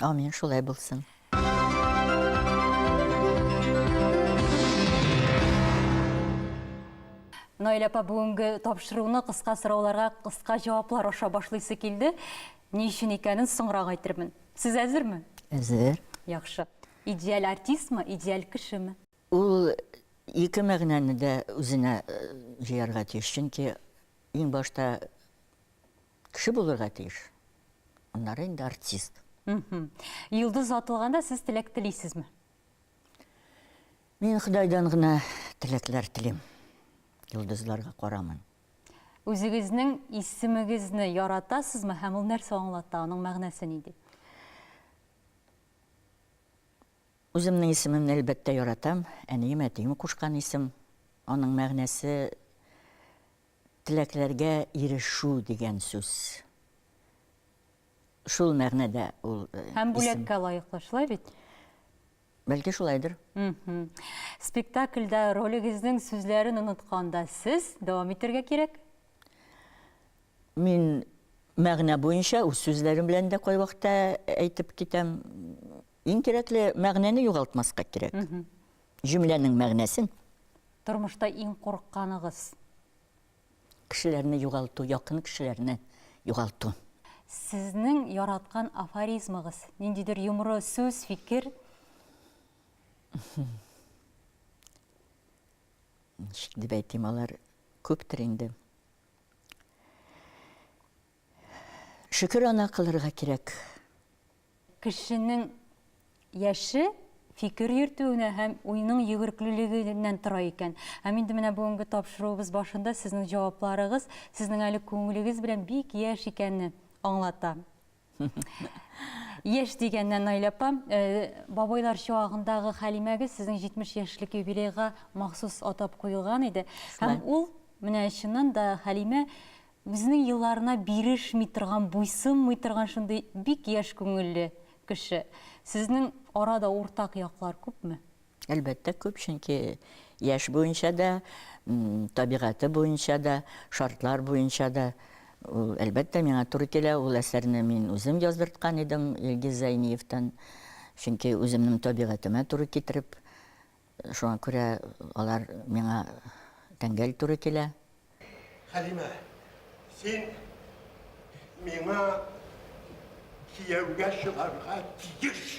Амин, шулай булсын. Наилә апа бүгенге тапшыруны кыска сорауларга кыска җаваплар аша башлыйсы килде. Ни өчен икәнен соңрак әйтермен. Сез әзерме? Әзер. Яхшы. Идеаль артистмы, идеаль кешеме? Ул ике мәгънәне дә үзенә э, җыярга тиеш, чөнки иң башта Кеше булырга тиеш. Аннары инде артист. Йолдыз атылганда сез теләк телисезме? Мин Ходайдан гына теләкләр телим. Йолдызларга карамын. Үзегезнең исемегезне яратасызмы һәм ул нәрсә аңлата, аның мәгънәсе нинди? Үземнең исемемне әлбәттә яратам. Әнием, әтием кушкан исем. Аның мәгънәсе Теләкләргә ирешү дигән сүз. Шул мәгънәдә ул исем. Һәм бүләккә лаеклы, шулай бит? Бәлки шулайдыр. Спектакльдә ролегезнең сүзләрен онытканда сез дәвам итәргә кирәк? Мин мәгънә буенча үз сүзләрем белән дә кайвакыта әйтеп китәм. Иң кирәкле мәгънәне югалтмаска кирәк. Җөмләнең мәгънәсен. Тормышта иң курыкканыгыз. Кешеләрне югалту, якын кешеләрне югалту. Сезнең яраткан афоризмыгыз, ниндидер йомры сүз, фикер? Ничек дип әйтим, алар күптер инде. Шөкер ана кылырга кирәк. Кешенең яше фикер йөртүенә һәм уйның йөгерклелегеннән тора икән. Һәм инде менә бүгенге тапшыруыбыз башында сезнең җавапларыгыз сезнең әле күңелегез белән бик яшь икәнне аңлата. Яшь дигәннән, Наилә апа, бабайлар чагындагы Хәлимәгез сезнең 70 яшьлек юбилейга махсус атап куелган иде. Һәм ул, менә чыннан да, Хәлимә Үзенең елларына бирешми торган, буйсынмый торган шундый бик яшь күңелле кеше. Сезнең арада уртак яклар күпме? Әлбәттә, күп, чөнки яшь буенча да, табигате буенча да, шартлар буенча да ул, әлбәттә, миңа туры килә. Ул әсәрне мин үзем яздырткан идем Илгиз Зәйниевтан, чөнки үземнең табигатемә туры китереп. Шуңа күрә алар миңа тәңгәл туры килә. Хәлимә, син миңа кияүгә чыгарга тиеш!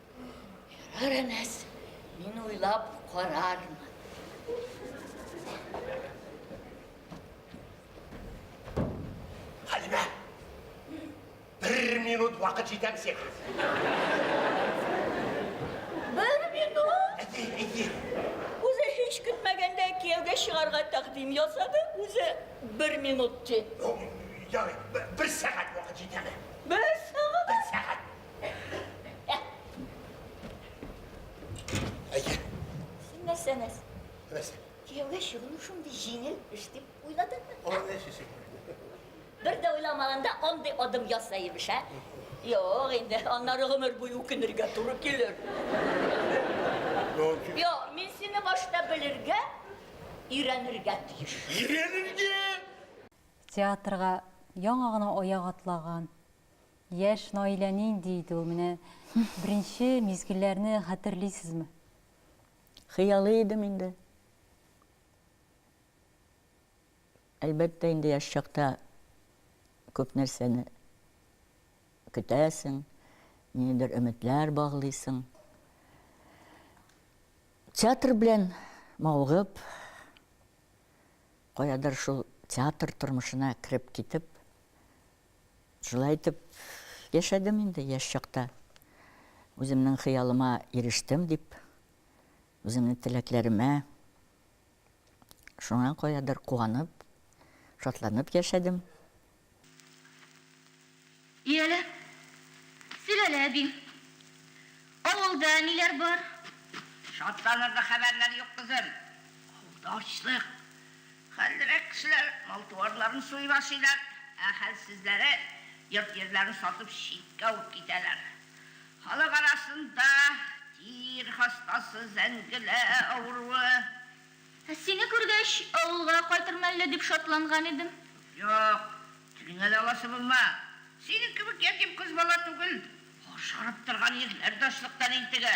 Ярар, Әнәс, мин уйлап карармын. Хәлимә, бер минут вакыт җитәр сиңа. Бер минут? Әти, әти. Үзе һич көтмәгәндә кияүгә чыгарга тәкъдим ясады, үзе бер минут ди. Ярый, бер сәгать вакыт җитәме? Бер сәгать? Бер сәгать. Әйе. Син нәрсә, нәрсә? Нәрсә? Кияүгә чыгуны шундый җиңел эш дип уйладыңмы? Аны нәрсә сөйлисең? Бер дә уйламаганда андый адым ясаймыш, ә? Юк, инде аннары гомер буе үкенергә туры килер. Юк, мин сине башта белергә, өйрәнергә тиеш. Өйрәнергә! Театрга яңа гына аяк атлаган Яшь Наилә нинди иде ул? Менә беренче мизгелләрне хәтерлисезме? Хыялый идем инде. Әлбәттә инде яшь чакта күп нәрсәне көтәсең, ниндидер өметләр баглыйсың. Театр белән мавыгып, каядыр шул театр тормышына кереп китеп, Шулай итеп яшәдем инде яшь чакта. Үземнең хыялыма ирештем дип, үземнең теләкләремә шуңа каядыр куанып, шатланып яшәдем. Иялә, сөйләлә, әбиң. Авылда ниләр бар? Шатланырлык хәбәрләр юк, кызым. Авылда ачлык. Хәллерәк кешеләр мал-туарларын суеп ашыйлар, ә хәлсезләре йорт-җирләрен сатып читкә ук китәләр. Халык арасында тир хастасы, зәңгелә авыруы, Ә сине күргәч, авылга кайтырмын әллә дип шатланган идем. Юк, телең әле аласы булма. Синең кебек ятим кыз бала түгел. Ашарып торган ирләр дә ачлыктан интегә.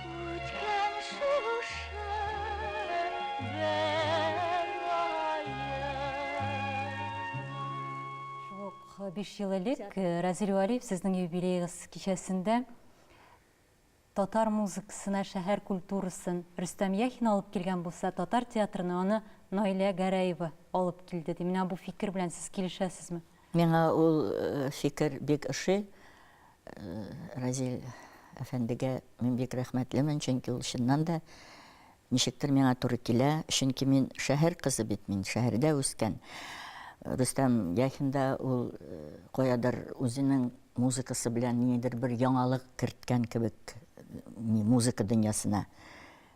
биш ел элек э, Разил Валиев сезнең юбилейгыз кичәсендә татар музыкасына, шәһәр культурасын Рөстәм Яхин алып килгән булса, татар театрына аны Наилә Гәрәева алып килде. Ди. Менә бу фикер белән сез килешәсезме? Миңа ул фикер бик ошый. Разил әфәндегә мин бик рәхмәтлемен, чөнки ул чыннан да ничектер миңа туры килә, чөнки мин шәһәр кызы бит, мин шәһәрдә үскән. Рөстәм Яхин да ул каядыр үзенең музыкасы белән ниндидер бер яңалык керткән кебек музыка дөньясына.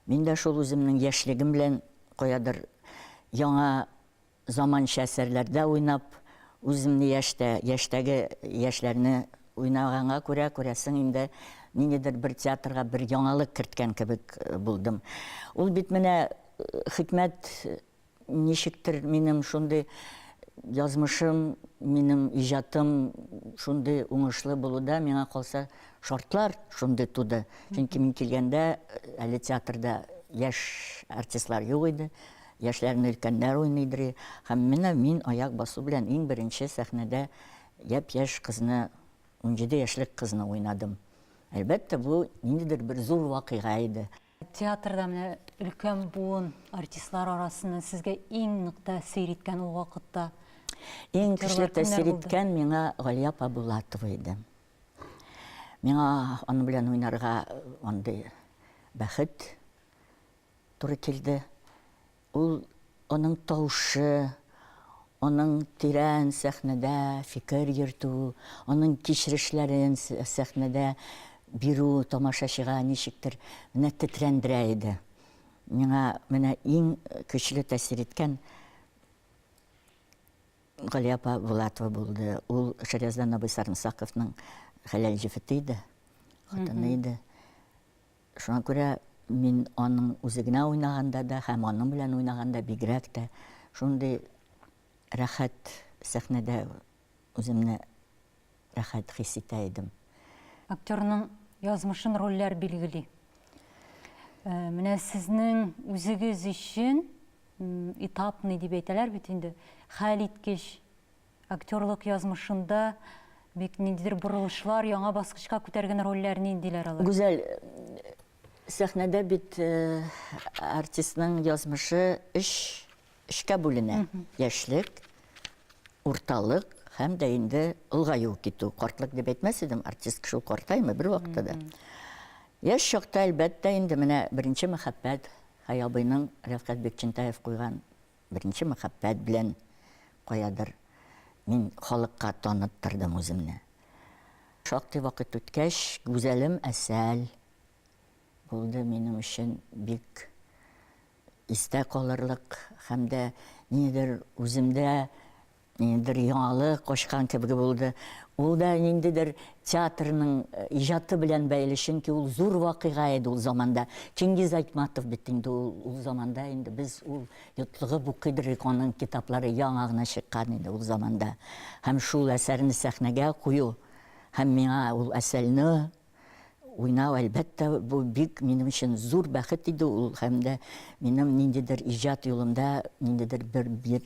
Мин дә шул үземнең яшьлегем белән каядыр яңа Заманча әсәрләрдә уйнап, үземне яшьтә, яшьтәге яшьләрне уйнаганга күрә, күрәсең инде, ниндидер бер театрга бер яңалык керткән кебек булдым. Ул бит менә Хикмәт ничектер минем шундый язмышым, минем иҗатым шундый уңышлы булуда, миңа калса, шартлар шундый туды. Чөнки мин килгәндә әле театрда яшь артистлар юк иде. Яшьләрне өлкәннәр уйный дри һәм менә мин аяк басу белән иң беренче сәхнәдә япь-яшь кызны, унҗиде яшьлек кызны уйнадым. Әлбәттә, бу ниндидер бер зур вакыйга иде. Театрда менә өлкән буын артистлар арасыннан сезгә иң нык тәэсир иткән ул вакытта Иң көчле тәэсир иткән миңа Галия апа Булатова иде. Миңа аның белән уйнарга андый бәхет, туры килде. Ул, аның тавышы, аның тирән сәхнәдә фикер йөртү, аның кичерешләрен сәхнәдә бирү тамашачыга ничектер менә тетрәндерә иде. Миңа менә иң көчле тәэсир иткән Гали апа Булатова булды. Ул Шарияздан абый Сарымсаковның хәләл җефете иде, хатыны иде. Шуңа күрә мин аның үзе генә уйнаганда да һәм аның белән уйнаганда бигрәк тә шундый рәхәт сәхнәдә үземне рәхәт хис итә идем. Актерның язмышын рольләр билгели. Э, менә сезнең үзегез өчен этапный дип әйтәләр бит инде, хәл иткеч Актерлык язмышында бик ниндидер борылышлар, яңа баскычка күтәргән рольләр ниндиләр алар? Гүзәл, сәхнәдә бит артистның язмышы өч өчкә бүленә. Яшьлек, урталык һәм дә инде олыгаю китү. Картлык дип әйтмәс идем, артистка шул картаймый бервакытта да. Яшь чакта, әлбәттә, инде менә беренче мәхәббәт, Хәя абыйның Рәфкать Бикчәнтәев куйган Беренче мәхәббәт белән каядыр мин халыкка таныттырдым үземне. Шактый вакыт үткәч, Гүзәлем Әсәл булды минем өчен бик истә калырлык һәм дә ниндидер үземдә Бер яңалык ачкан кебек булды. Ул да ниндидер театрның иҗаты белән бәйле, чөнки ул зур вакыйга иде ул заманда. Чингиз Айтматов бит инде ул, ул заманда инде без ул йотлыгып укый идек, аның китаплары яңа гына чыккан иде ул заманда. Һәм шул әсәрне сәхнәгә кую һәм миңа ул әсәрне уйнау, әлбәттә, бу бик минем өчен зур бәхет иде ул, һәм дә минем ниндидер иҗат юлымда ниндидер бер, бер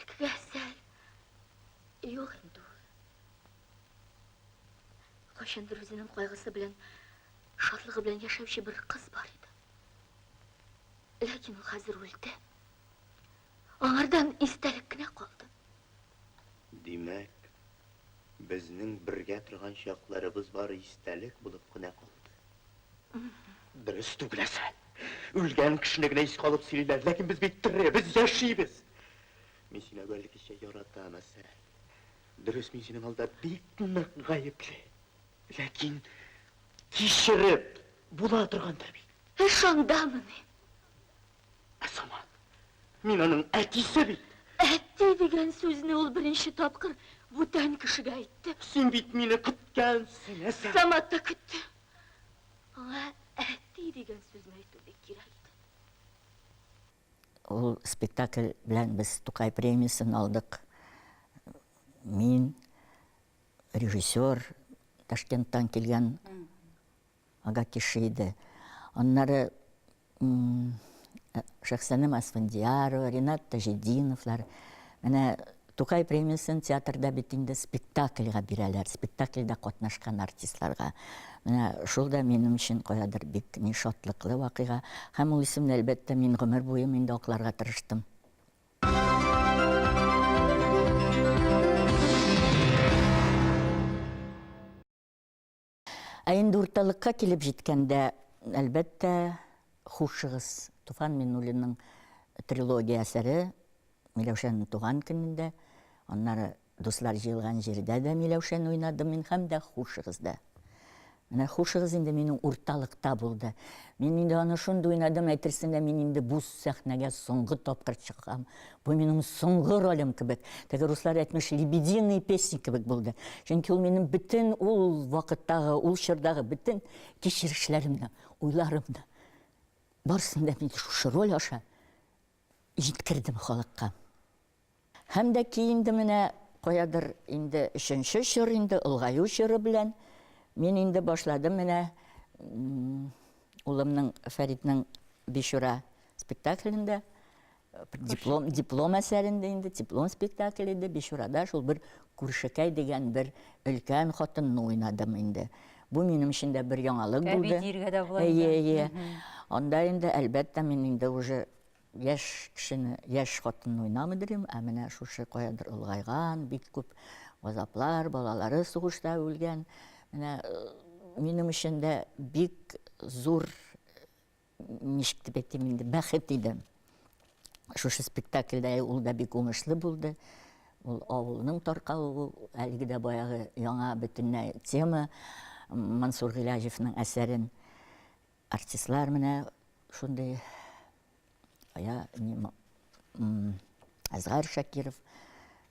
Әкбәсәр. Юк инде ул. Кайчандыр үзенең кайгысы белән, шатлыгы белән яшәүче бер кыз бар иде. Ләкин ул хәзер үлде. Аңардан истәлек кенә калды. Димәк, безнең бергә торган чакларыбыз бары истәлек булып кына калды. Дөрес түгел әсә. Үлгән кешене генә искә алып сөйлиләр, ләкин без бит тере, без яшибез. Мин сине әүвәлгечә яратам, әсә. Дөрес, мин синең алда бик нык гаепле. Ләкин кичереп була торгандыр бит. Ә шундамыни? Ә сама, мин аның әтисе бит. Әти дигән сүзне ул беренче тапкыр бүтән кешегә әйтте. Син бит мине көткәнсең, ә сама. Самат та көтте. Аңа әти дигән сүзне әйтү бик кирәк иде. Ул спектакль белән без Тукай премиясен алдык. Мин, режиссер, Ташкенттан килгән Ага кеше иде. Аннары Шәхсәнәм Асфандиярова, Ренат Таҗетдиновлар. Менә Тукай премиясен театрда бит инде спектакльга бирәләр. Спектакльдә катнашкан артистларга. Менә шул да минем өчен каядыр бик ни шатлыклы вакыйга. Һәм ул исемне, әлбәттә, мин гомер буем инде акларга тырыштым. Ә инде урталыкка килеп җиткәндә, әлбәттә, хушыгыз, Туфан Миннуллинның трилогия әсәре Миләүшәнең туган көнендә, аннары Дуслар җыелган җирдә дә Миләүшәне уйнадым мин һәм дә Хушыгыз да. Менә хушыгыз инде минем урталыкта булды. Мин инде аны шундый уйнадым, әйтерсең лә мин инде бу сәхнәгә соңгы тапкыр чыгам. Бу минем соңгы ролем кебек. Теге руслар әйтмеш, лебединый песни кебек булды. Чөнки ул минем бөтен ул вакыттагы, ул чордагы бөтен кичерешләремне, уйларымны барсын да мин шушы роль аша җиткердем халыкка. Һәм дә ки инде менә каядыр инде өченче чор инде олгаю чоры белән мин инде башладым менә улымның Фәритнең Бишура спектаклендә Диплом, диплом әсәрендә инде, диплом спектакль иде, Бичурада шул бер күршекәй дигән бер өлкән хатынны уйнадым инде. Бу минем өчен дә бер яңалык булды. Әби диергә дә була. Әйе, әйе. Анда инде, әлбәттә, мин инде уже яшь кешене, яшь хатынны уйнамый дирем, ә менә шушы каядыр олгайган, бик күп газаплар, балалары сугышта үлгән. Менә минем өчен дә бик зур ничек дип әйтим инде, бәхет иде. Шушы спектакльдә ул да бик уңышлы булды. Ул авылның таркалуы, әлеге дә баягы яңа бөтенләй тема. Мансур Гыйләҗевнең әсәрен артистлар менә шундый я не Азгар Шакиров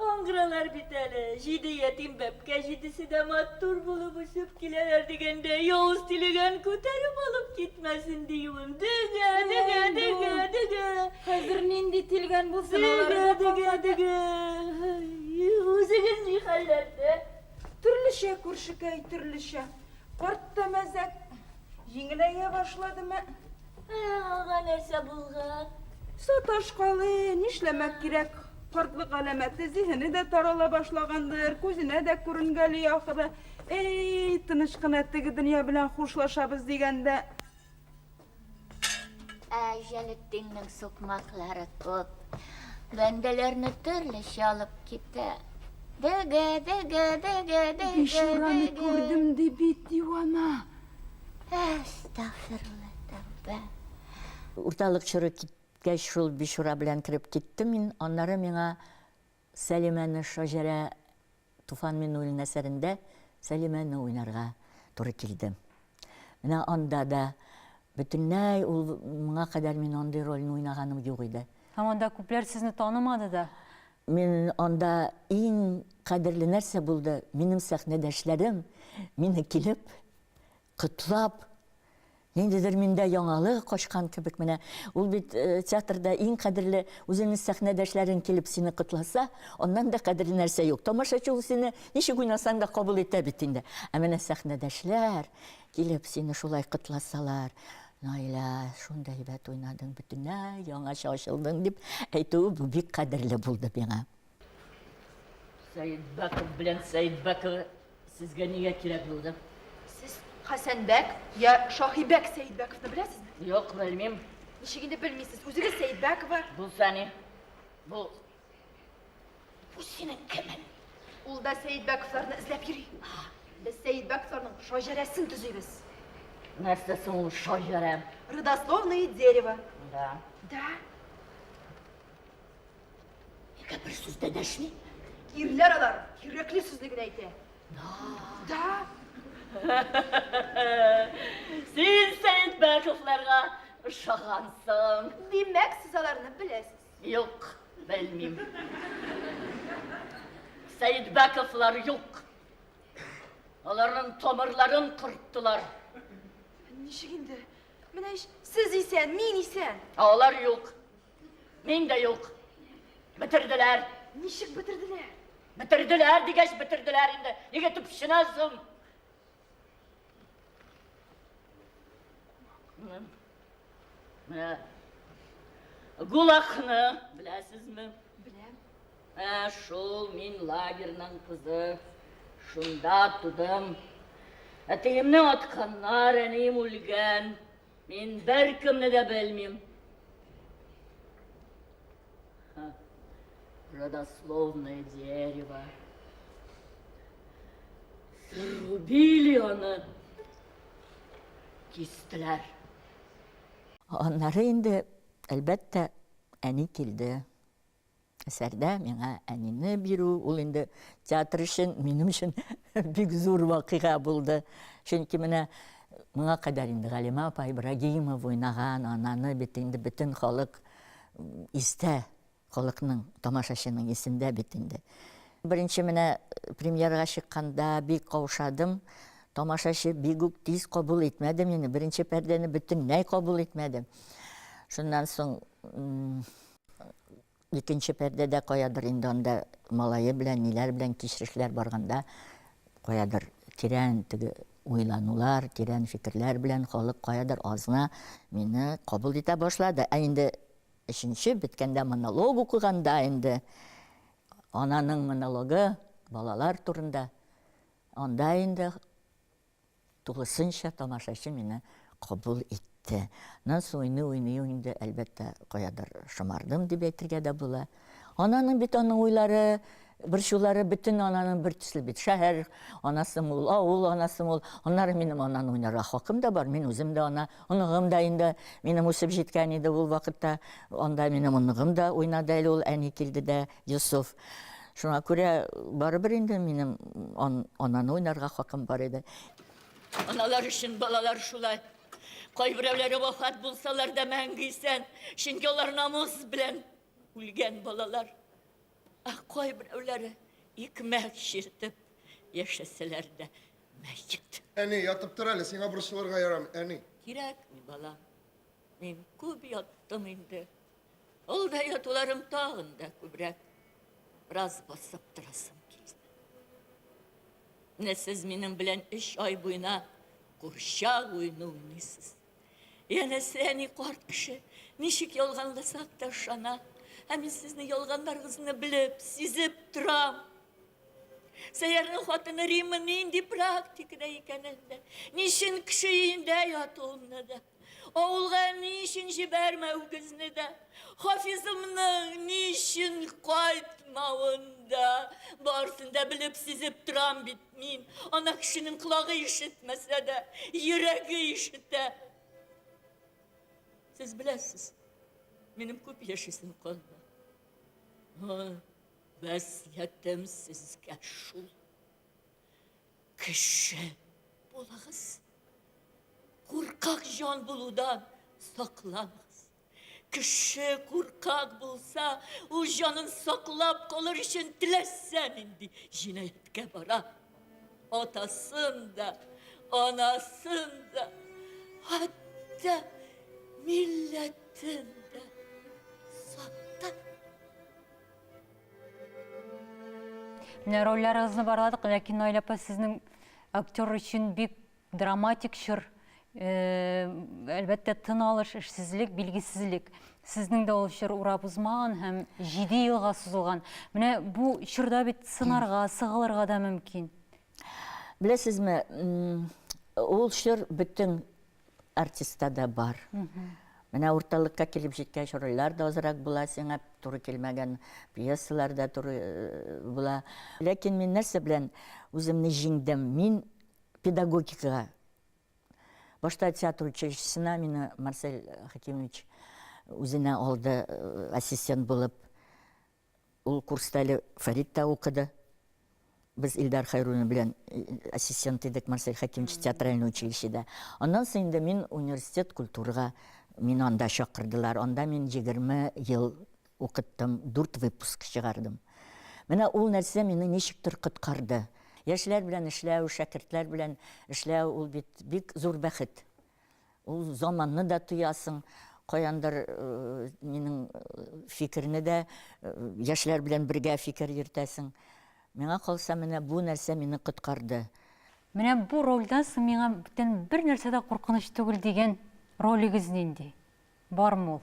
Аңгыралар бит әле, җиде ятим бәбкә җидесе дә матур булып очып киләләр дигәндә, явыз тилегән күтәреп алып китмәсен диюем. Дөге, дөге, дөге, дөге. Хәзер нинди тилгән булсын, алары да калмады. Дөге, дөге, дөге. Үзегез ни хәлләрдә? Төрлечә, күршекәй, төрлечә. Карт та мәзәк. Җиңеләя башладымы? Ә аңа нәрсә булган? Саташкалы, нишләмәк кирәк, картлык галәмәте, зиһене дә тарала башлагандыр, күзенә дә күренгәли, ахры. Әй, тыныч кына теге дөнья белән хушлашабыз дигәндә. Ә Җәлетдиннең сукмаклары күп. Бәндәләрне төрлечә алып китә. Дөге, дөге, дөге, дөге, дөге. Бичураны күрдем, ди бит, дивана. Әстәгъфирулла тәүбә. Урталык чоры киткәч, шул бичура белән кереп киттем мин. Аннары миңа Сәлимәне Шаҗәрә Туфан Миннуллина әсәрендә Сәлимәне уйнарга туры килде. Менә анда да бөтенләй ул моңа кадәр мин андый рольне уйнаганым юк иде. Һәм анда күпләр сезне танымады да. Мин анда иң кадерле нәрсә булды, минем сәхнәдәшләрем мине килеп котлап, ниндидер миндә яңалык ачкан кебек, менә ул бит театрда иң кадерле, үзеңнең сәхнәдәшләрең килеп сине котласа, аннан да кадерле нәрсә юк. Тамашачы ул сине ничек уйнасаң да кабул итә бит инде. Ә менә сәхнәдәшләр, Килеп сине шулай котласалар, Наилә, шундый әйбәт уйнадың, бөтенләй яңача ачылдың, дип әйтүе бу бик кадерле булды миңа. Сәетбәков белән Сәетбәкова сезгә нигә кирәк булды? Сез Хәсәнбәк, я Шаһибәк Сәетбәковны беләсезме? Юк, белмим. Ничек инде белмисез? Үзегез Сәетбәкова. Булса ни? Бу Бу синең кемең? Ул да Сәйдбәковларны эзләп йөри. Без Сәйдбәковларның шаҗәрәсен төзибез. Нәрсә соң ул шаҗәрә? Родословное дерево. Да. Да. Нигә бер сүз дә дәшми? Ирләр алар кирәкле сүзне генә әйтә. Да. Да. Син Сәйдбәковларга ошагансың. Димәк, сез аларны беләсез. Юк, белмим. Сәйдбәковлар юк. Аларның тамырларын кырттылар. Ничек инде? Менә ич сез исән, мин исән. Ә алар юк. Мин дә юк. Бетерделәр. Ничек бетерделәр? Бетерделәр дигәч бетерделәр инде. Нигә төпченәсең? Менә Гулахны беләсезме? Беләм. Ә шул мин лагерьның кызы. Шунда тудым. Әтиемне атканнар, әнием үлгән. Мин беркемне дә белмим. Родословное дерево. Срубили аны. Кистеләр. Аннары инде, әлбәттә, әни килде. Әсәрдә миңа әнине бирү, ул инде театр өчен, минем өчен бик зур вакыйга булды. Чөнки менә моңа кадәр инде Галимә апа Ибрагимова уйнаган ананы бит инде бөтен халык истә, халыкның, тамашачының исендә бит инде. Беренче менә э, премьерага чыкканда бик каушадым. Тамашачы бик үк тиз кабул итмәде мине. Беренче пәрдәне бөтенләй кабул итмәде. Шуннан соң Икенче пәрдәдә каядыр инде анда малае белән, ниләр белән кичерешләр барганда, каядыр тирән теге уйланулар, тирән фикерләр белән халык каядыр азна мине кабул итә башлады. Ә инде өченче беткәндә монолог укыганда инде ананың монологы балалар турында анда инде Тулысынча тамашачы мине кабул итте. Аннан соң уйный-уйный ук инде, әлбәттә, каядыр шомардым дип әйтергә дә була. Ананың бит аның уйлары, борчулары бөтен ананың бер төсле бит. Шәһәр анасым ул, авыл анасым ул. Аннары минем ананы уйнарга хакым да бар. Мин үзем дә ана, оныгым да инде минем үсеп җиткән иде ул вакытта. Анда минем оныгым да уйнады әле ул, әни килде дә, Йосыф. Шуңа күрә барыбер инде минем ананы уйнарга хакым бар иде. Аналар өчен балалар шулай. Кайберәүләре вафат булсалар да мәңге исән, чөнки алар намус белән үлгән балалар. Ә кайберәүләре икмәк чиртеп яшәсәләр дә мәет. Әни, ятып тор әле, сиңа борчылырга ярамый, әни. Кирәкми, балам. Мин күп яттым инде. Ул да ятуларым тагын да күбрәк. Бераз басып торасым килде. Менә сез минем белән өч ай буена курчак уйны уйныйсыз. Янәсе әни карт кеше ничек ялганласак та ышана. Ә мин сезнең ялганнарыгызны белеп, сизеп торам. Сәйярның хатыны Римма нинди практикада икәнен дә, ничен кеше өендә ятуымны да. Авылга ни өчен җибәрмәү көзне дә, Хафизымның ни өчен кайтмавын да, барысын да белеп-сизеп торам бит мин. Ана кешенең колагы ишетмәсә дә, йөрәге ишетә. Сез беләсез, минем күп яшисем калды. Васиятем сезгә шул. Кеше булыгыз. Куркак җан булудан сакланыгыз. Кеше куркак булса, ул җанын саклап калыр өчен теләсә нинди җинаятькә бара. Атасын да, анасын да, хәтта милләтен дә сатып Менә рольләрегезне барладык, ләкин Наил апа сезнең актер өчен бик драматик чор. Э, әлбәттә, тын алыш, эшсезлек, билгесезлек. Сезнең дә ул чор урап узмаган һәм 7 елга сузылган. Менә бу чорда бит сынарга, сыгылырга да мөмкин. Беләсезме, ул чор бөтен артистта да бар. Менә урталыкка килеп җиткәч, рольләр дә азрак була, сиңа туры килмәгән пьесалар да туры э, була. Ләкин мин нәрсә белән үземне җиңдем? Мин педагогикага. Башта театр училищесына мине Марсель Хакимович үзенә алды э, ассистент булып. Ул курста әле Фәрит тә укыды. Без Илдар Хәйруллин белән ассистент идек Марсель Хәкимович театральный училищеда. Аннан соң инде мин университет культурага мин анда чакырдылар. Анда мин 20 ел укыттым, 4 выпуск чыгардым. Менә ул нәрсә мине ничектер коткарды. Яшьләр белән эшләү, шәкертләр белән эшләү ул бит бик зур бәхет. Ул заманны да тоясың, каяндыр минем фикерне дә яшьләр белән бергә фикер йөртәсең. Миңа калса, менә бу нәрсә мине коткарды. Менә бу рольдән соң миңа бүтән бернәрсә дә куркыныч түгел дигән ролегез нинди? Бар мул.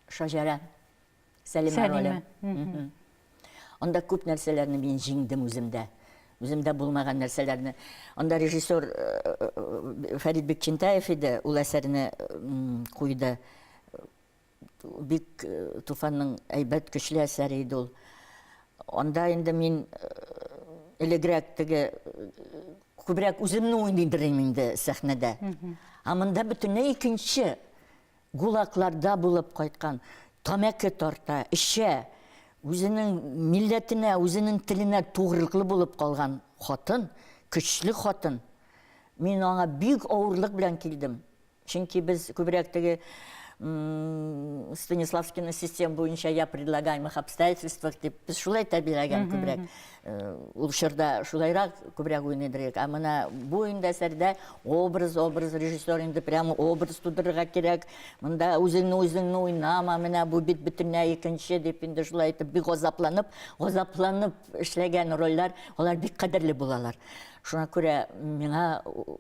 Шаҗәрә. Сәлимә роле. Анда күп нәрсәләрне мин җиңдем үземдә. Үземдә булмаган нәрсәләрне. Анда режиссер Фәрит Бекчентаев иде, ул әсәрне куйды. Бик Туфанның әйбәт, көчле әсәре иде ул. Анда инде мин элегрәк теге Күбрәк үземне уйный белим инде сәхнәдә. Ә монда бөтенләй икенче. Гулакларда булып кайткан, тамәке тарта, эчә. Үзенең милләтенә, үзенең теленә тугрылыклы булып калган хатын, көчле хатын. Мин аңа бик авырлык белән килдем. Чөнки без күбрәк теге Станиславскина систем буенча я предлагаемых обстоятельствах дип без шулай тәрбияләгән күбрәк. Э, ул чорда шулайрак күбрәк уйный идек. Ә менә бу инде әсәрдә образ, образ режиссер инде прямо образ тудырырга кирәк. Монда үзеңне үзеңне уйнама, менә бу бит бөтенләй икенче дип инде шулай итеп бик газапланып, газапланып эшләгән рольләр, алар бик кадерле булалар. Шуңа күрә миңа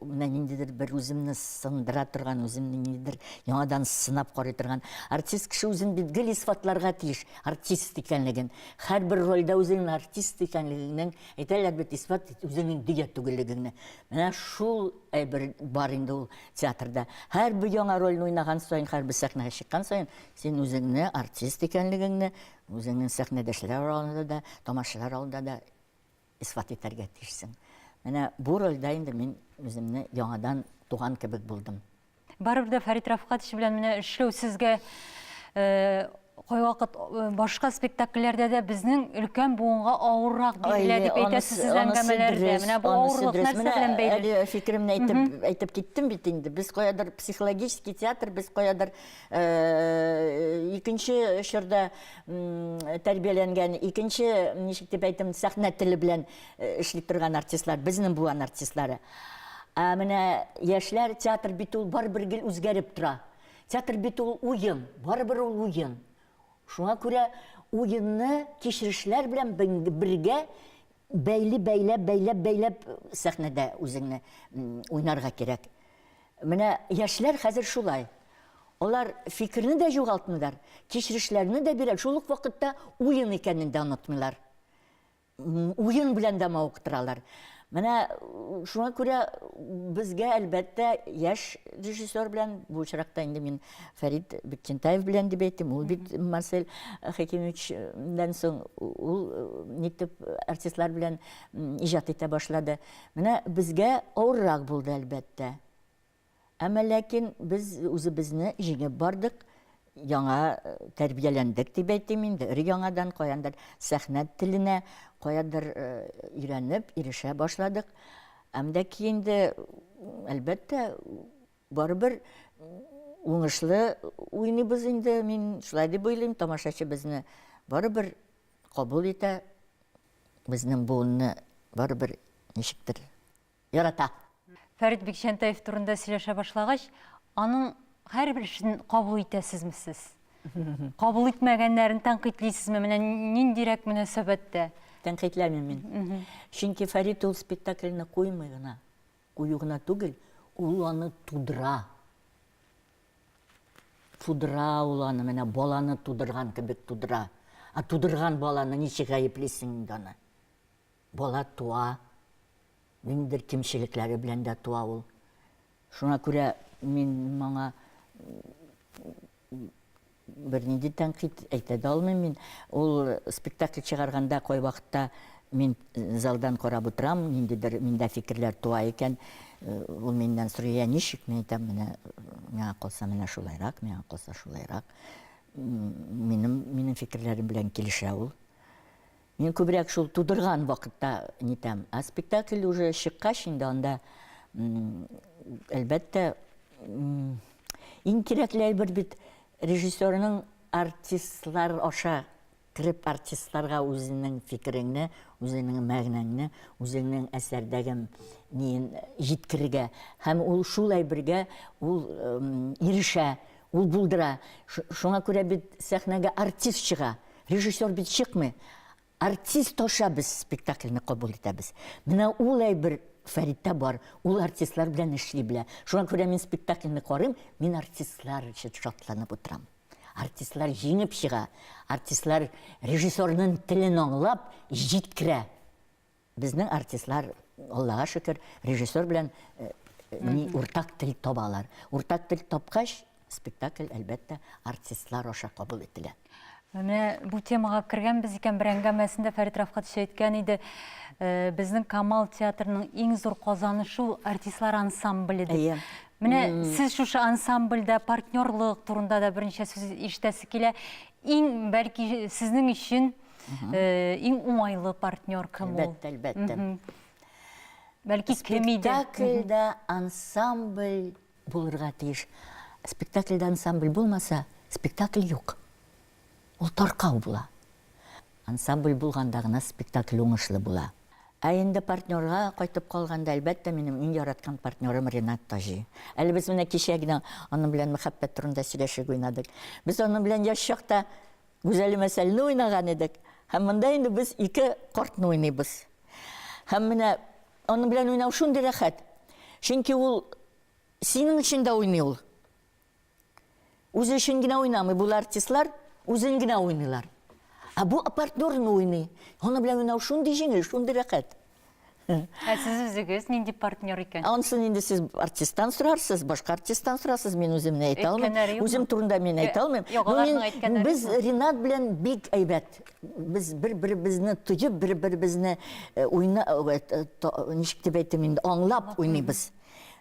менә ниндидер бер үземне сындыра торган, үземне ниндидер яңадан сынап карый торган. Артист кеше үзен бит гел исбатларга тиеш, артист икәнлеген. Һәрбер рольдә үзеңнең артист икәнлегеңнең, әйтәләр бит, исбат ит үзеңнең дөя түгеллегеңне. Менә шул әйбер бар инде ул театрда. Һәрбер яңа рольне уйнаган саен, һәрбер сәхнәгә чыккан саен, син үзеңне артист икәнлегеңне, үзеңнең сәхнәдәшләр алдында да, тамашачылар алдында да исбат итәргә тиешсең. Менә бу рольдә инде мин үземне яңадан туган кебек булдым. Барыбер дә Фәрит Рафкатович белән менә эшләү сезгә кайвакыт башка спектакльләрдә дә безнең өлкән буынга авыррак бирелә дип әйтәсез сез әңгәмәләрдә. Менә бу авырлык нәрсә белән бәйле? Әле фикеремне әйтеп әйтеп киттем бит инде. Без каядыр психологический театр, без каядыр икенче чорда тәрбияләнгән, икенче, ничек дип әйтим, сәхнә теле белән эшли торган артистлар, безнең буан артистлары. Ә менә яшьләр театр бит ул барыбер гел үзгәреп тора. Театр бит ул уен, барыбер ул уен. Шуңа күрә уенны кичерешләр белән бергә бәйли бәйләп, бәйләп, бәйләп сәхнәдә үзеңне уйнарга кирәк. Менә яшьләр хәзер шулай. Алар фикерне дә югалтмыйлар, кичерешләрне дә бирә, шул ук вакытта уен икәнен дә онытмыйлар. Уен белән дә мавыктыралар. Менә шуңа күрә безгә, әлбәттә, яшь режиссер белән, бу очракта инде мин Фәрит Бекчентаев белән дип әйтим, ул бит Марсель Хәкимовичтән соң ул нитеп артистлар белән иҗат итә башлады. Менә безгә авыррак булды, әлбәттә. Әмма ләкин без үзебезне җиңеп бардык, яңа тәрбияләндек дип әйтим инде, өр-яңадан каяндыр сәхнә теленә каядыр өйрәнеп, ирешә башладык. Әм дә ки инде, әлбәттә, барыбер уңышлы уйныйбыз инде, мин шулай дип уйлыйм, тамашачы безне барыбер кабул итә, безнең буынны барыбер ничектер ярата. Фәрит Бикчәнтәев турында сөйләшә башлагач, аның һәрбер эшен кабул итәсезме сез? Кабул итмәгәннәрен тәнкыйтьлисезме? Менә ниндирәк мөнәсәбәттә? Тәнкыйтьләмим мин. Чөнки Фәрит ул спектакльне куймый гына. Кую гына түгел, ул аны тудыра. Тудыра ул аны, менә баланы тудырган кебек тудыра. Ә тудырган баланы ничек гаеплисең инде аны? Бала туа, ниндидер кимчелекләре белән дә туа ул. Шуңа күрә мин моңа Бернинди тәнкыйть әйтә дә алмыйм мин. Ул спектакль чыгарганда кайвакытта мин залдан карап утырам, ниндидер миндә фикерләр туа икән, ул миннән сорый, я ничек? Мин әйтәм, менә миңа калса менә шулайрак, миңа калса шулайрак. Минем минем фикерләрем белән килешә ул. Мин күбрәк шул тудырган вакытта нитәм. Ә спектакль уже чыккач инде анда, әлбәттә, иң кирәкле әйбер бит режиссерның артистлар аша кереп, артистларга үзенең фикереңне, үзенең мәгънәңне, үзеңнең әсәрдәге ниен җиткерергә. Һәм ул шул әйбергә ул ирешә, Ул булдыра. Шуңа күрә бит сәхнәгә артист чыга. Режиссер бит чыкмый. Артист аша без спектакльне кабул итәбез. Менә ул әйбер Фәриттә бар. Ул артистлар белән эшли белә. Шуңа күрә мин спектакльне карыйм, мин артистлар өчен шатланып утырам. Артистлар җиңеп чыга. Артистлар режиссерның телен аңлап, җиткерә. Безнең артистлар, Аллага шөкер, режиссер белән ни уртак тел табалар. Уртак тел тапкач, спектакль, әлбәттә, артистлар аша кабул ителә. Менә бу темага кергәнбез икән, бер әңгәмәсендә Фәрит Рафкатович әйткән иде, э, безнең Камал театрының иң зур казанышы ул артистлар ансамбле дип. Әйе. Менә сез шушы ансамбльдә партнерлык турында да берничә сүз ишетәсе килә. Иң бәлки сезнең өчен Иң уңайлы партнер кем ул? Әлбәттә, әлбәттә. Бәлки кем иде? Спектакльдә ансамбль булырга тиеш. Спектакльдә ансамбль булмаса, спектакль юк. Ул таркау була. Ансамбль булганда гына спектакль уңышлы була. Ә инде партнерга кайтып калганда, әлбәттә, минем иң яраткан партнерым Ренат Таҗи. Әле без менә кичә генә аның белән мәхәббәт турында сөйләшеп уйнадык. Без аның белән яшь чакта Гүзәлем Әсәлне уйнаган идек. Һәм монда инде без ике картны уйныйбыз. Һәм менә аның белән уйнау шундый рәхәт. Чөнки ул синең өчен дә уйный ул. Үзе өчен генә уйнамый. Бу артистлар үзен генә уйныйлар. Ә бу партнерын уйный. Аның белән уйнау шундый җиңел, шундый рәхәт. Ә сез үзегез нинди партнер икән? Ансын инде сез артисттан сорарсыз, башка артисттан сорарсыз, мин үзем не әйтә алмыйм. Үзем турында мин әйтә алмыйм. Ну, без Ринат белән бик әйбәт. Без бер-беребезне тоеп, бер-беребезне уйна, ничек дип әйтим инде, аңлап уйныйбыз.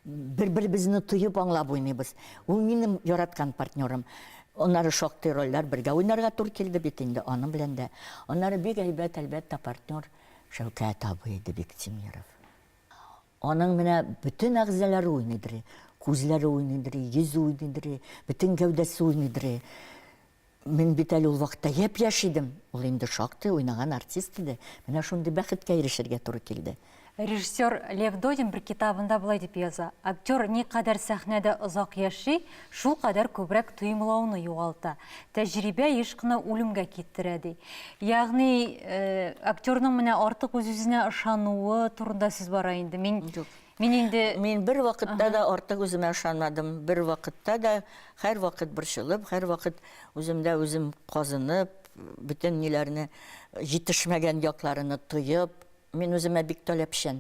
Бер-беребезне тоеп аңлап уйныйбыз. Ул минем яраткан партнерым. Аннары шактый рольләр бергә уйнарга туры килде бит инде аның белән дә. Аннары бик әйбәт, әлбәттә, партнер. Шәүкәт абый иде Биктимеров. Аның менә бөтен әгъзалары уйныйдыр. Күзләре уйныйдыр, йөзе уйныйдыр, бөтен гәүдәсе уйныйдыр. Мин бит әле ул вакытта япь-яшь идем. Ул инде шактый уйнаган артист иде. Менә шундый бәхеткә ирешергә туры килде. Режиссер Лев Додин бер китабында болай дип яза, Актер никадәр сәхнәдә озак яши, Шул кадәр күбрәк тоемлауны югалта. Тәҗрибә еш кына үлемгә китерә, ди. Ягъни, актерның менә артык үз-үзенә ышануы турында сүз бара инде. Мин, мин инде... Мин бервакытта да артык үземә ышанмадым. Бервакытта да, һәрвакыт борчылып, һәрвакыт үземдә үзем казынып, бөтен ниләрне, җитешмәгән якларыны тоеп, Мин үземә бик таләпчән.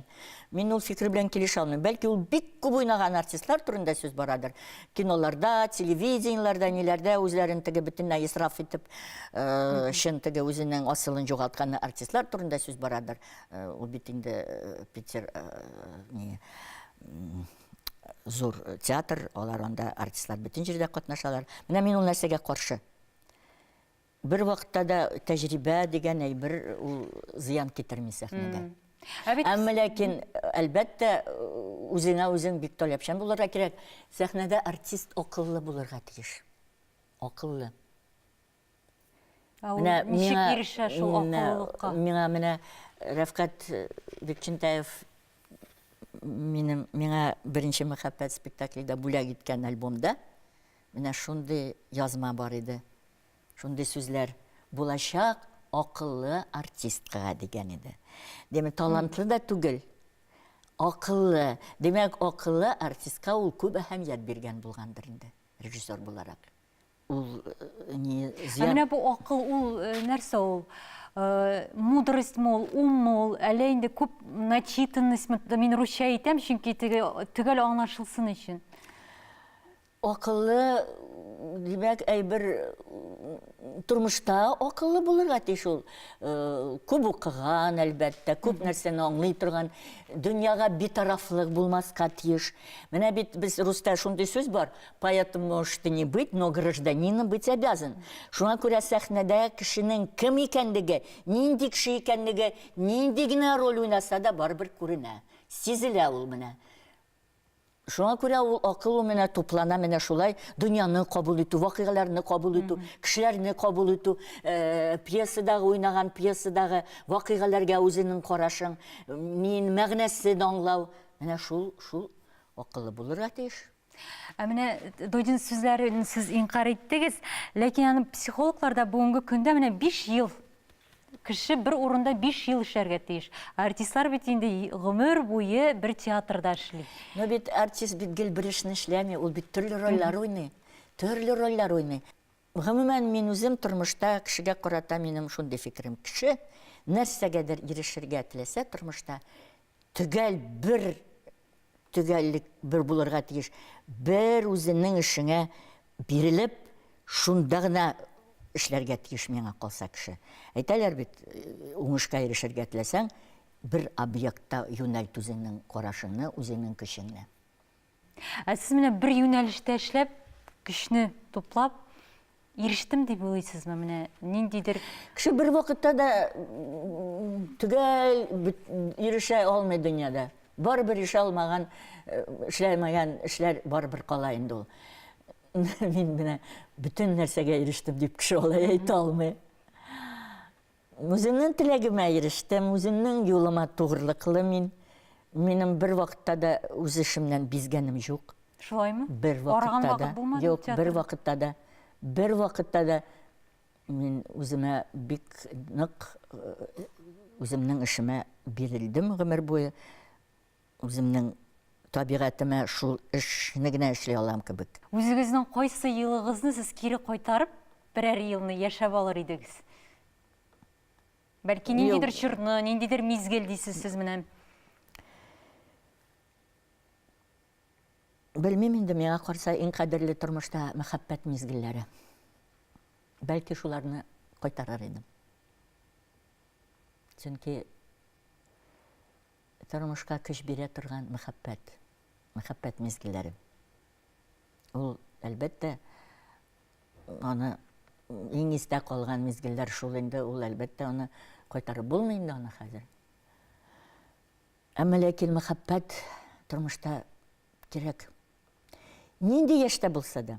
Мин ул фикер белән килешә алмыйм. Бәлки ул бик күп уйнаган артистлар турында сүз барадыр. Киноларда, телевидениеләрдә, ниләрдә үзләрен теге бөтенләй исраф итеп, э, чын теге үзенең асылын югалткан артистлар турында сүз барадыр. Э, ул бит инде э, Питер э, ни м, зур театр, алар анда артистлар бөтен җирдә катнашалар. Менә мин ул нәрсәгә каршы. Бер вакытта да тәҗрибә дигән әйбер ул зыян китерми сәхнәдә. Ә бит Әмма ләкин, әлбәттә, үзеңә үзең бик таләпчән булырга кирәк. Сәхнәдә артист акыллы булырга тиеш. Акыллы. Менә миңа ирешә шул акыллылыкка? Миңа менә Рәфкать Бекчентаев минем миңа беренче мәхәббәт спектакле дә бүләк иткән альбомда менә шундый язма бар иде. Шундый сүзләр булачак акыллы артисткага дигән иде. Димәк, талантлы да түгел. Акыллы. Димәк, акыллы артистка ул күп әһәмият биргән булгандыр инде, режиссер буларак. Ул э, не зря... Менә бу акыл ул э, нәрсә ул? Э, мудрость мол, ум мол, әле инде күп начитанность, мин русча әйтәм, чөнки төгәл аңлашылсын өчен. Акыллы, димәк, әйбер тормышта акыллы булырга тиеш ул. Күп укыган, әлбәттә, күп нәрсәне аңлый торган, дөньяга битарафлык булмаска тиеш. Менә бит без русьта шундый сүз бар, поэтом можешь ты не быть, но гражданином быть обязан. Шуңа күрә сәхнәдә кешенең кем икәнлеге, нинди кеше икәнлеге, нинди генә роль уйнаса да барыбер күренә, сизелә ул менә. Шуңа күрә ул акыл ул менә туплана менә шулай дөньяны кабул итү, вакыйгаларны кабул итү, кешеләрне кабул итү, э, пьесадагы уйнаган пьесадагы вакыйгаларга үзенең карашың, мин мәгънәсен аңлау, менә шул шул акылы булырга тиеш. Ә менә Дойдин сүзләрен сез инкар иттегез, ләкин аны психологлар да бүгенге көндә менә 5 ел Кеше бер урында биш ел эшләргә тиеш. Ә артистлар бит инде гомер буе бер театрда эшли. Ну бит артист бит гел бер эшне эшләми, ул бит төрле рольләр уйный. Төрле рольләр уйный. Гомумән, мин үзем тормышта кешегә карата минем шундый фикерем, кеше нәрсәгәдер ирешергә теләсә тормышта, Төгәл бер төгәллек бер булырга тиеш. Бер үзенең эшеңә бирелеп, шунда гына эшләргә тиеш миңа калса кеше. Әйтәләр бит, э, уңышка ирешергә теләсәң, бер объектта юнәлт үзеңнең карашыңны, үзеңнең көчеңне. Ә сез менә бер юнәлештә эшләп, көчне туплап, ирештем дип уйлыйсызмы? Менә ниндидер Кеше бер вакытта да төгәл ирешә алмый дөньяда. Барыбер ирешә алмаган, эшләмәгән эшләр барыбер кала инде ул. Мин менә бөтен нәрсәгә ирештем дип кеше алай әйтә алмый. Үземнең теләгемә ирештем, үземнең юлыма тугрылыклы мин. Минем бер вакытта да үз эшемнән бизгәнем юк. Шулаймы? Бер вакытта да. Юк, бер вакытта да. Бер вакытта да мин үземә бик нык, үземнең эшемә бирелдем гомер буе. Үземнең табигатемә шул эшне генә эшли алам кебек. Үзегезнең кайсы елыгызны сез кире кайтарып, берәр елны яшәп алыр идегез? Бәлки ниндидер чорны, ниндидер мизгел дисез сез менә? Белмим инде, миңа карса иң кадерле тормышта мәхәббәт мизгелләре. Бәлки шуларны кайтарыр идем. Чөнки Тормышка көч бирә торган мәхәббәт, мәхәббәт мизгелләре. Ул, әлбәттә, аны иң истә калган мизгелләр шул инде, ул, әлбәттә, аны кайтарып булмый инде аны хәзер. Әмма ләкин мәхәббәт тормышта кирәк. Нинди яшьтә булса да.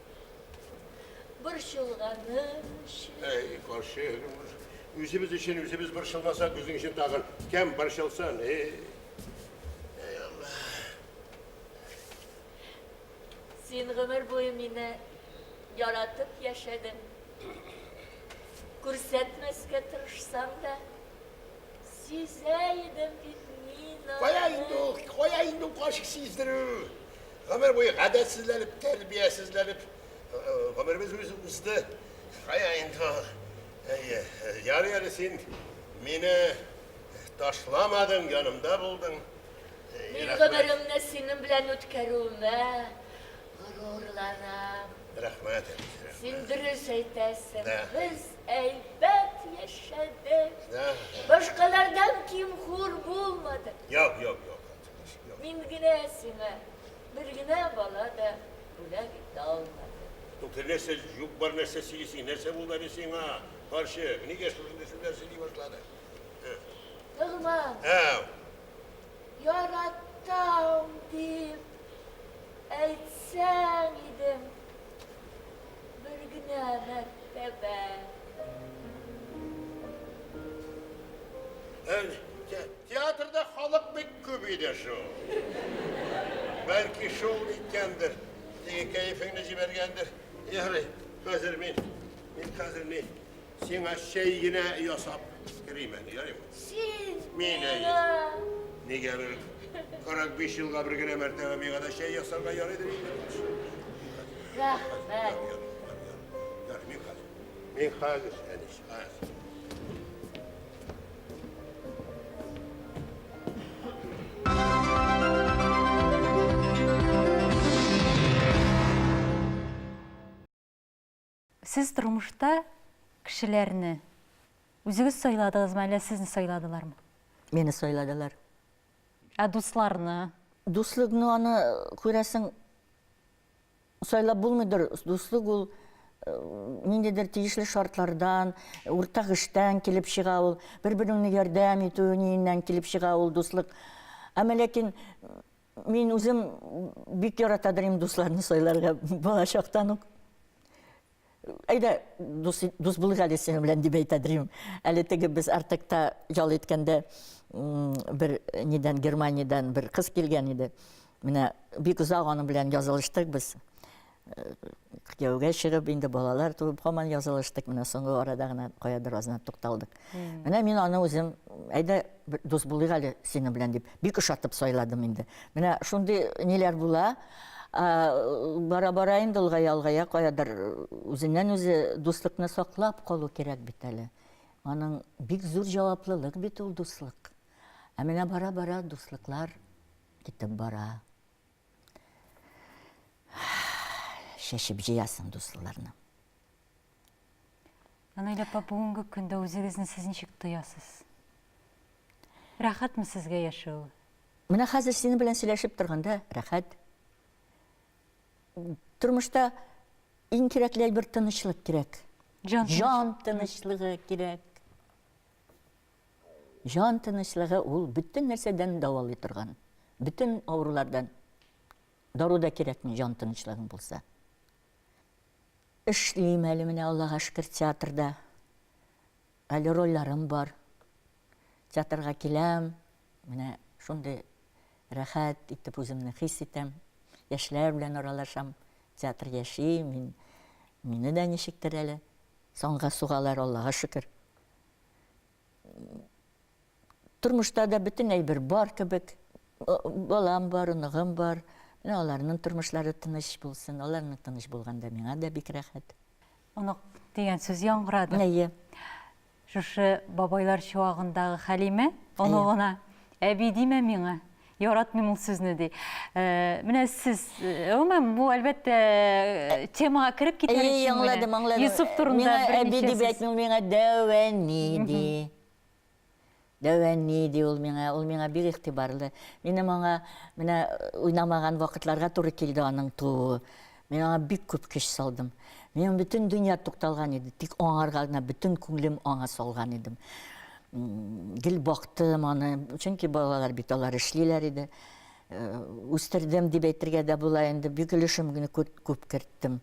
Борчылганы өчен. Әй, карчык, үзебез өчен үзебез борчылмасак, үзең өчен тагын кем борчылсын, эй. Әй, Алла. Син гомер буе мине яратып яшәдең. Күрсәтмәскә тырышсаң да, Сизә идем бит мин аны. Кая инде ул, кая инде ул кашык сиздерү? Гомер буе гадәтсезләнеп, тәрбиясезләнеп, гомеребез үзе узды. Кая инде ул? Әйе, ярый әле син мине ташламадың, янымда булдың. Мин гомеремне синең белән үткәрүемә Горурланам. Рәхмәт, әби. Рәхмәт. Син дөрес әйтәсең. Да. Без әйбәт яшәдек. Да. Башкалардан ким хур булмадык. Юк, юк, юк. Мин генә сиңа бер генә бала да бүләк итә алмадым. Күпер нәрсә юк бар нәрсә сөйлисең. Нәрсә булды әле сиңа? Карчык, нигә шушындый сүзләр сөйли башлады? Ногман. Ау. Яратам дип әйтсәң идем бер генә мәртәбә. Театрда халык бик күп иде шул. Бәлки шул иткәндер. Теге кәефеңне җибәргәндер. Ярый, хәзер мин, мин хәзер ни, Сиңа чәй генә ясап керим әле, ярыймы? Син Мин әйе. Нигә бер 45 елга бер генә мәртәбә миңа да чәй ясарга ярыйдыр инде. Рәхмәт. Ярый, мин хәзер. Мин хәзер, әнис, хәзер. Сез тормышта кешеләрне үзегез сайладыгызмы, әллә сезне сайладылармы? Мине сайладылар. Ә дусларны? Дуслык, ну аны күрәсең, сайлап булмыйдыр. Дуслык ул э, ниндидер тиешле шартлардан, уртак эштән килеп чыга ул, бер-береңне ярдәм итү ниеннән килеп чыга ул дуслык. Әмма ләкин Мин үзем бик яратадыр инде дусларны сайларга балачактан ук. Әйдә, дус, дус булыйк әле синең белән дип әйтәдер идем. Әле теге без Артекта ял иткәндә бер нидән Германиядән бер кыз килгән иде. Менә бик озак аның белән язылыштык без. кияүгә чыгып, инде балалар туып, һаман язылыштык. Менә соңгы арада гына каядыр азына тукталдык. Менә мин аны үзем, әйдә дус булыйк әле синең белән дип, бик ошатып сайладым инде. Менә шундый ниләр була. Бара-бара инде олгая-олгая каядыр үзеннән үзе дуслыкны саклап калу кирәк бит әле. Аның бик зур җаваплылык бит ул дуслык. Ә менә бара-бара дуслыклар китеп бара. Чәчеп җыясың дуслыларны. Анайда апа, бүгенге көндә үзегезне сез ничек тоясыз? Рәхәтме сезгә яшәү? Менә хәзер синең белән сөйләшеп торганда рәхәт. Тормышта иң кирәкле әйбер тынычлык кирәк. Җан тынычлыгы кирәк. Җан тынычлыгы ул бөтен нәрсәдән дәвалый торган, бөтен авырулардан дару да кирәкми, җан тынычлыгың булса. Эшлим әле менә, Аллага шөкер, театрда. Әле рольләрем бар. Театрга киләм, менә шундый рәхәт итеп үземне хис итәм. Яшьләр белән аралашам, театр яши, мин, мине дә ничектер әле санга сугалар, Аллага шөкер. тормышта да бөтенләй бер бар кебек. Балам бар, оныгым бар. Менә аларның тормышлары тыныч булсын. Аларның тыныч булганда миңа да бик рәхәт. Онык дигән сүз яңгырады. Әйе. Шушы бабайлар чуагындагы Хәлимә оныгына әби димә миңа. Яратмыйм ул сүзне ди. Менә сез, гомумән, бу әлбәттә темага кереп китәр өчен. Әйе, аңладым, аңладым. Йосыф турында берничә сүз. Әби дип әйтми, ул миңа дәвәни ди. Дәвәни ди ул миңа, ул миңа бик игътибарлы. Минем аңа менә уйнамаган вакытларга туры килде аның тууы. Мин аңа бик күп көч салдым. Минем бөтен дөнья тукталган иде, тик аңарга гына бөтен күңелем аңа салган идем. Гел бактым аны, чөнки балалар бит алар эшлиләр иде. Үстердем дип әйтергә дә була инде, бик өлешем генә күп керттем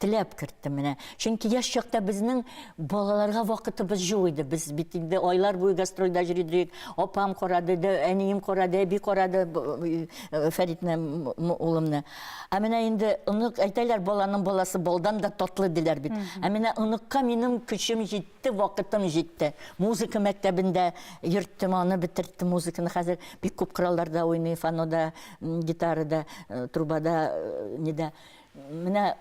теләп керттем менә. Чөнки яшь чакта безнең балаларга вакытыбыз юк иде. Без бит инде айлар буе гастрольдә йөри идек. Апам карады, әнием карады, әби карады э, Фәритне, улымны. Ә менә инде онык әйтәләр, баланың баласы балдан да татлы диләр бит. Ә менә оныкка минем көчем җитте, вакытым җитте. Музыка мәктәбендә йөрттем, аны бетерттем, музыканы хәзер бик күп коралларда уйный, фанода, гитарада, э, трубада, э, нидә. Менә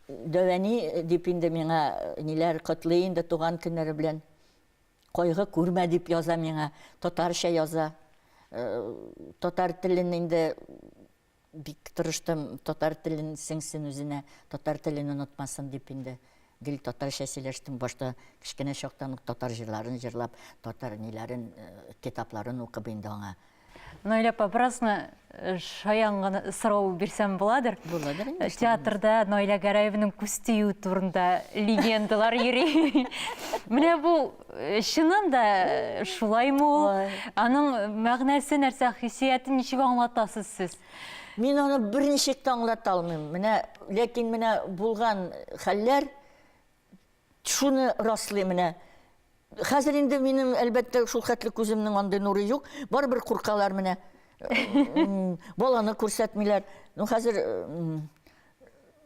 Дәвәни дип инде миңа ниләр котлый инде туган көннәре белән. Кайгы күрмә дип яза миңа, татарча яза. Татар телен инде бик тырыштым, татар телен сеңсен үзенә, татар телен онытмасын дип инде гел татарча сөйләштем. Башта кечкенә чактан ук татар җырларын җырлап, татар ниләрен, китапларын укып инде аңа Наиля апа, беразны э, шаян гына сорау бирсәм буладыр? Буладыр инде. Театрда Наиля Гәрәевның күз тию турында легендалар йөри. Менә бу э, чыннан да э, шулаймы ул? Ой. Аның мәгънәсе нәрсә, хиссияте ничек аңлатасыз сез? Мин аны берничек тә аңлата алмыйм. Менә, ләкин менә булган хәлләр Шуны раслый менә. Хәзер инде минем, әлбәттә, шул хәтле күземнең андый нуры юк. Барыбер куркалар менә. Баланы күрсәтмиләр. Ну, хәзер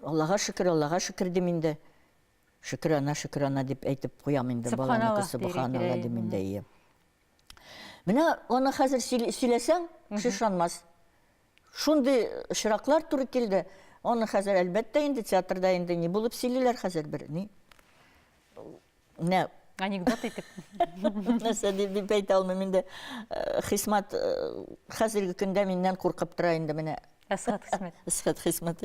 Аллага шөкер, Аллага шөкер дим инде. Шөкер ана, шөкер ана дип әйтеп куям инде баланы күрсәтеп. Субханаллаһ дим инде, әйе. Менә аны хәзер сөйләсәң, кеше ышанмас. Шундый очраклар туры килде. Аны хәзер әлбәттә инде театрда инде ни булып сөйлиләр хәзер бер ни. Менә анекдот итеп. Нәрсә дип дип әйтә алмыйм инде. Э, Хисмат э, хәзерге көндә миннән куркып тора инде менә. Әсхат Хисмәт. Әсхат Хисмәт.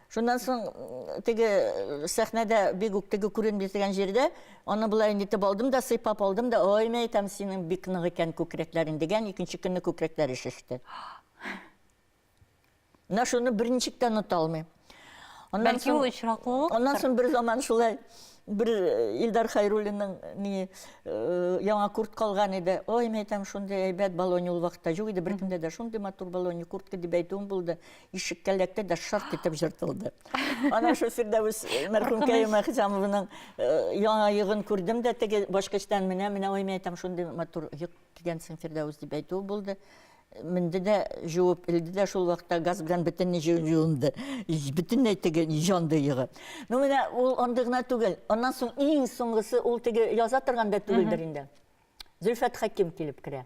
Шуннан соң теге сәхнәдә бик үк теге күренми дигән җирдә аны болай нитеп алдым да, сыйпап алдым да, ой, мә әйтәм, синең бик нык икән күкрәкләрең дигән, икенче көнне күкрәкләре шеште. Менә шуны берничек тә оныта алмыйм. Аннан Бәлки ул очраклылык. Аннан соң бер заман шулай бер э, Илдар Хайруллинның ни э, яңа курт калган иде. Ой, мәйтәм, шундый әйбәт балони ул вакытта юк иде беркемдә дә. Шундый матур балони куртка дип әйтүем булды. ишеккә эләкте дә шарт итеп җыртылды. Ана шул Фирдәвес э, мәрхүмкәй Мәхҗамованың э, яңа йогын күрдем дә теге башкачтан менә менә ой мен әйтәм шундый матур йог кигәнсең Фирдәвес дип әйтү булды. Менде дә жуып илде дә шул вакытта газ белән бөтенләй җуынды. Бөтенләй теге җанды йогы. Ну менә ул андый гына түгел. Аннан соң иң соңгысы ул теге яза торганда түгелдер инде. Зөлфәт Хаким килеп керә.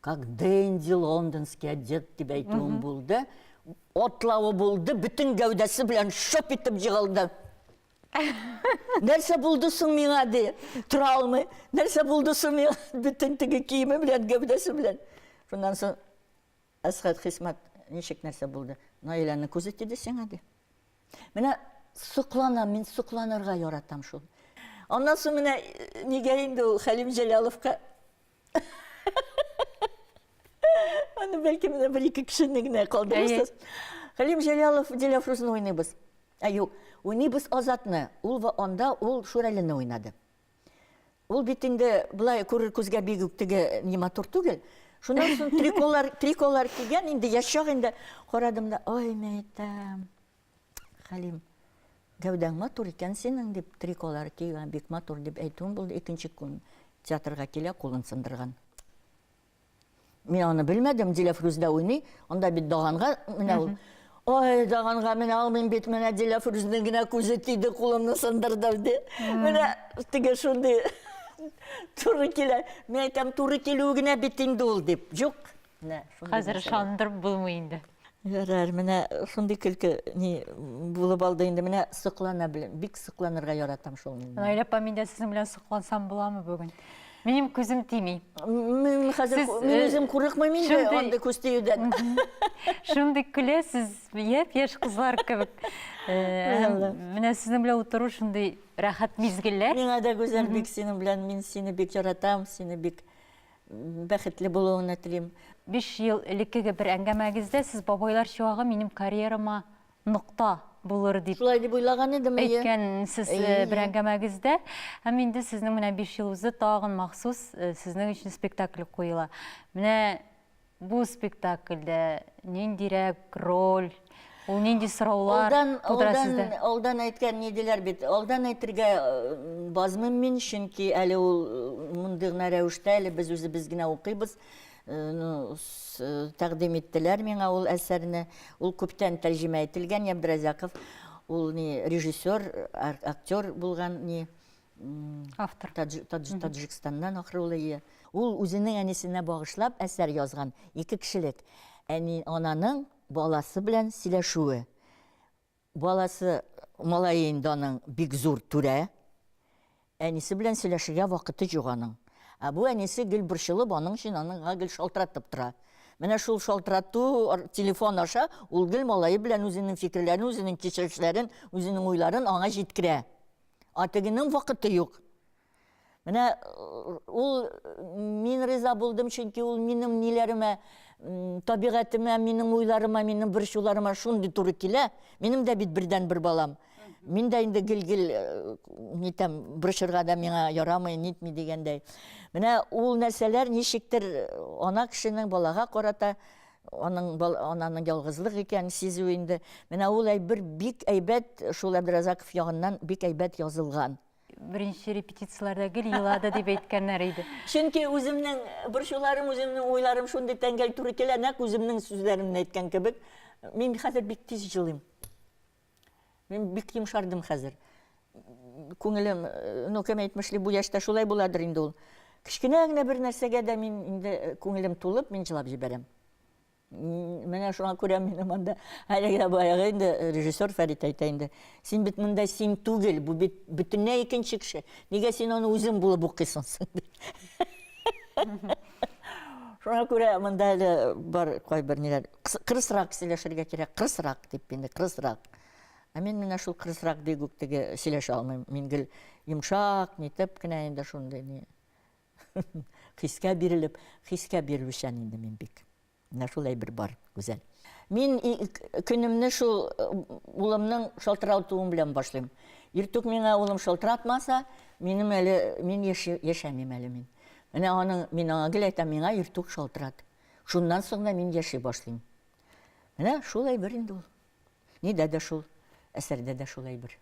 Как Дэнди лондонский одет дип әйтүем булды. Атлавы булды, бөтен гәүдәсе белән шоп итеп җыгылды. Нәрсә булды соң миңа ди, тора алмый. Нәрсә булды соң миңа бөтен теге киеме белән, гәүдәсе белән. Шуннан соң Әсхәт Хисмәт ничек нәрсә булды? Наиләнең күзе тиде сиңа ди. Менә сокланам, мин сокланырга яратам шул. Аннан соң менә нигә инде ул Хәлим Җәлаловка Аны бәлки менә бер ике кешене генә калдырырсыз. Хәлим Җәлялов Диләфрүзне уйныйбыз. Ә юк, уйныйбыз Азатны. Ул анда ул Шүрәлене уйнады. Ул бит инде былай күрер күзгә бик үк теге не матур түгел. Шуннан соң триколар, триколар кигән инде яшь чак инде карадым да, ой, мәйтәм. Хәлим. Гәүдәң матур икән синең, дип, триколар ки, бик матур, дип әйтүем булды. Икенче көн театрга килә, кулын сындырган. Мин аны белмәдем, Диләфрүздә уйный, анда бит Даганга менә ул. Ой, Даганга менә алмыйм бит, менә Диләфрүзнең генә күзе тиде, кулымны сындырды, ди. Менә теге шундый туры килә. Мин әйтәм, туры килүе генә бит инде ул, дип. Юк, Хәзер ышандырып булмый инде. Ярар, менә шундый көлке ни булып алды инде. Менә соклана беләм. Бик сокланырга яратам шул мин. Наилә апа, мин дә сезнең белән соклансам буламы бүген? Минем күзем тими. Мин хәзер мин үзем курыкмыйм инде андый күз тиюдән. Шундый көләсез, япь-яшь кызлар кебек. Менә сезнең белән утыру шундый рәхәт мизгелләр. Миңа да гүзәл бик синең белән, мин сине бик яратам, сине бик бәхетле булуыңны телим. Биш ел элеккеге бер әңгәмәгездә сез Бабайлар чуагы минем карьерама нокта булыр дип Шулай дип уйлаган идем, әйе. Әйткәнсез бер әңгәмәгездә. Һәм инде сезнең менә биш ел узды, тагын махсус сезнең өчен спектакль куела. Менә Бу спектакльдә ниндирәк роль, ул нинди сораулар тудыра сездә? Алдан әйткән ни диләр бит, алдан әйтергә э, базмыйм мин, чөнки әле ул э, мондый гына рәвештә, әле без үзебез генә укыйбыз. Э, ну, тәкъдим иттеләр миңа ул әсәрне. Ул күптән тәрҗемә ителгән, Ябдразяков. Ул ни режиссер, актер булган ни Автор. Таджикстаннан ахрылые. Ул үзенең әнисенә багышлап әсәр язган. Ике кешелек. Әни, ананың баласы белән сөйләшүе. Баласы, малае инде аның бик зур түрә. Әнисе белән сөйләшергә вакыты юк аның. Ә бу әнисе гел борчылып, аның өчен аныңга гел шалтыратып тора. Менә шул шалтырату телефон аша ул гел малае белән үзенең фикерләрен, үзенең кичерешләрен, үзенең уйларын аңа җиткерә. А тегенең вакыты юк. Менә э, ул мин риза булдым, чөнки ул минем ниләремә, табигатемә, минем уйларыма, минем борчуларыма шундый туры килә. Минем дә бит бердән бер балам. Мин дә инде гел-гел э, нитәм, борчырга да миңа ярамый, нитми дигәндәй. Менә ул нәрсәләр ничектер э, ана кешенең балага карата Аның бал, ананың ялгызлык икәнен сизү инде. Менә ул әйбер бик әйбәт шул Әбдразаков ягыннан бик әйбәт язылган. Беренче репетицияләрдә гел елады дип әйткәннәр иде. Чөнки үземнең борчуларым, үземнең уйларым шундый тәңгәл туры килә, нәкъ үземнең сүзләремне әйткән кебек. Мин хәзер бик тиз җылыйм. Мин бик йомшардым хәзер. Күңелем, ну, кем әйтмешли, бу яшьтә шулай буладыр инде ул. Кечкенә генә бер нәрсәгә дә мин инде э, күңелем тулып, мин җылап җибәрәм. Менә шуңа күрә мин монда әлегә баягы инде э, режиссер Фәрит әйтә инде. Син бит монда син түгел, бу бит бөтенләй икенче кеше. Нигә син аны үзең булып укыйсың соң? Шуңа күрә монда әле бар кайбер ниләр. Кырысрак сөйләшергә кирәк, кырысрак дип инде, кырысрак. Ә мин менә шул кырысрак бик үк теге сөйләшә алмыйм. Мин гел йомшак, нитеп кенә инде шундый ни. Хискә бирелеп, хискә бирелүчән инде мин бик. Менә шул әйбер бар, Гүзәл. Мин көнемне шул улымның шалтыратуы белән башлыйм. Иртүк миңа улым шалтыратмаса, минем әле мин яшәмим әле мин. Менә аның мин аңа гел әйтәм, миңа иртүк шалтырат. Шуннан соң да мин яши башлыйм. Менә шул әйбер инде ул. Нидә дә шул, әсәрдә дә шул әйбер.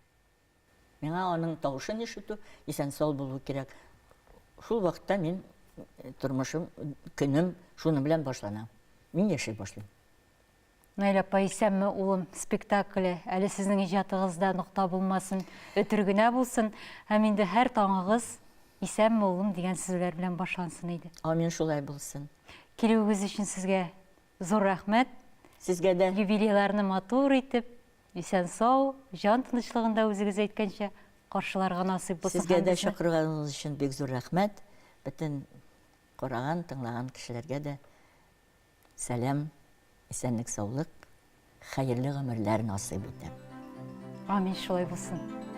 Миңа аның тавышын ишетү, исән-сау булу кирәк. Шул вакытта мин тормышым, көнем шуның белән башлана. Мин яши башлыйм. Наилә апа, исәнме, улым, спектакле, әле сезнең иҗатыгызда нокта булмасын, өтер генә булсын, һәм инде һәр таңыгыз исәнме, улым, дигән сүзләр белән башлансын иде. Амин, шулай булсын. Килүегез өчен сезгә зур рәхмәт. Сезгә дә. Юбилейларны матур итеп, Исән-сау, җан тынычлыгында үзегез әйткәнчә каршыларга насыйп булсын һәммәсе. Сезгә дә чакырганыгыз өчен бик зур рәхмәт. Бөтен караган, тыңлаган кешеләргә дә сәлам, исәнлек-саулык, хәерле гомерләр насыйп итәм. Амин, шулай булсын.